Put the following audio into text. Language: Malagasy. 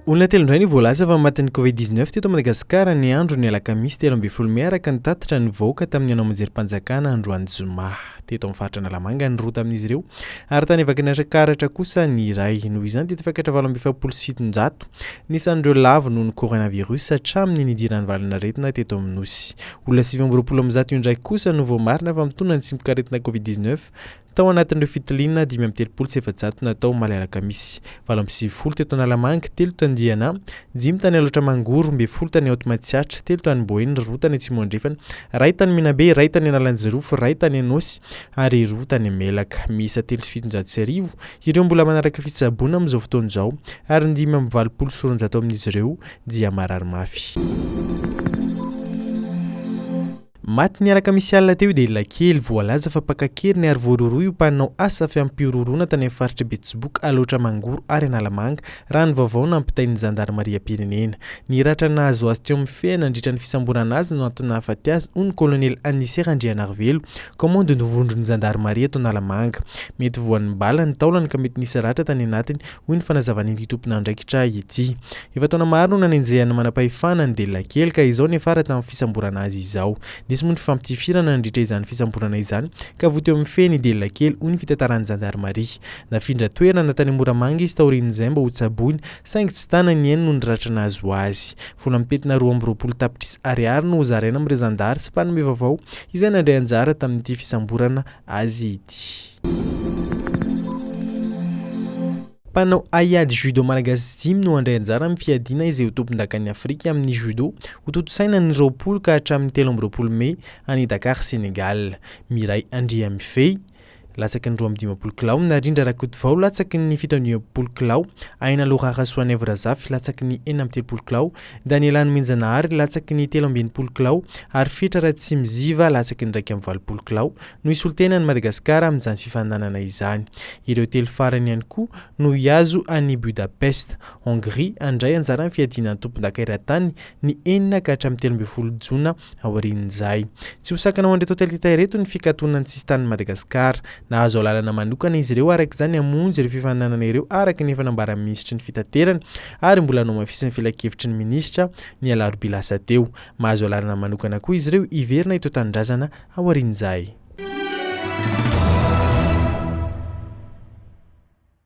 Olona telo indray ny voalaza fa matin'ny Covid-19 teto Madagasikara ny andro ny alakamisy telo ambin'ny folo mey araka ny tatitra ny vahoaka tamin'ny hanao amanjerim-panjakana androany zoma. Teto amin'ny faritra Analamanga ny roa tamin'izy ireo ary tany Vakinanitra Karatra kosa ny iray. Noho izany dia tafakatra valo amby efapolo sy fitonjato ny isan'ireo lavo noho ny coronavirus hatramin'ny nidiran'ny valan'aretina teto amin'ny nosy. Olona sivy amby roapolo amin'ny zato indraiky kosa no voamarina fa mitondra ny tsimokaretina Covid dix neuf tao anatin'ireo fitiliana dimy amby telopolo sy efajato natao omaly alakamisy. Valo amby sivifolo teto Analamanga, telo tany Diana, dimy tany Alaotra Mangoro, roa ambin'ny folo tany Haute Matsiatra, telo tany Boeny, roa tany Atsimo Andrefana, iray tany Menabe, iray tany Analanjirofo, iray tany Anôsy ary roa tany Melaka. Miisa telo sy fitonjato sy arivo ireo mbola manaraka fitsaboana amin'izao fotoana izao ary ny dimy amby valopolo sy roanjato amin'izy ireo dia marary mafy. Maty ny alakamisy alina teo i Delilakely. Voalaza fa mpaka an-keriny ary voarohirohy ho mpanao asa fiampihorohoroana tany amin'ny faritra Betsiboka, Alaotra Mangoro ary Analamanga, raha ny vaovao nampitain'ny zandarimariam-pirenena. Ny ratra nahazo azy teo amin'ny feny nandritra ny fisamborana azy no antony nahafaty azy, hoy ny kolonely Anise Randrianarivelo, kaomandin'ny vondron'ny zandarimaria eto Analamanga. Mety voan'ny bala ny taolany ka mety nisy ratra tany anatiny, hoy ny fanazavan'ity tomponandraikitra ity. Efa taona maro no nanenjehan'ny manam-pahefana ny delila kely ka izao niafara tamin'ny fisamborana azy izao. Nisy moa ny fifampitifirana nandritra izany fisamborana izany ka voa teo amin'ny feny i delila kely hoy ny fitantaran'ny zandarimaria. Nafindra toerana tany Moramanga izy taorian'izay mba hotsaboina saingy tsy tana ny ainy noho ny ratra nahazo azy. Vola mitentina roa amby roapolo tapitrisa ariary no hozaraina amin'ireo zandary sy mpanome vaovao izay nandray anjara tamin'ity fisamborana azy ity. Mpanao haiady judo malagasy dimy no handray anjara amin'ny fiadiana izay ho tompondakan'i Afrika amin'ny judo ho tontosaina ny roapolo ka hatramin'ny telo amby roapolo mey any Dakar Sénégal. Miray Andriamifehy, latsaky ny roa amby dimampolo kilao, Narindra Rakotovao, latsaky ny fito amby dimampolo kilao, Ainalo Rarasoanaivo Razafy, latsaky ny enina amby telopolo kilao, Daniela Nomenjanahary, latsaky ny telo amby enimpolo kilao, ary Fitra Ratsimiziva, latsaky ny iraika amby valopolo kilao, no hisolo-tena an'i Madagasikara amin'izany fifaninanana izany. Ireo telo farany ihany koa no hihazo an'i Budapest, Hongria, handray anjara amin'ny fiadiana ny tompondaka eran-tany ny enina ka hatramin'ny telo ambin'ny folo jona Aorian'izay, tsy ho sakana ho an'ireto hotely ireto ny fikatona ny sisin-tanin'i Madagasikara. Nahazo alalana manokana izy ireo araka izany hamonjy ireo fifaninanana ireo araka ny efa nambaran'ny minisitry ny Fitaterana ary mbola nohamafisin'ny filankevitry ny minisitra ny alarobia lasa teo. Mahazo alalana manokana koa izy ireo hiverina eto an-tanindrazana aorian'izay.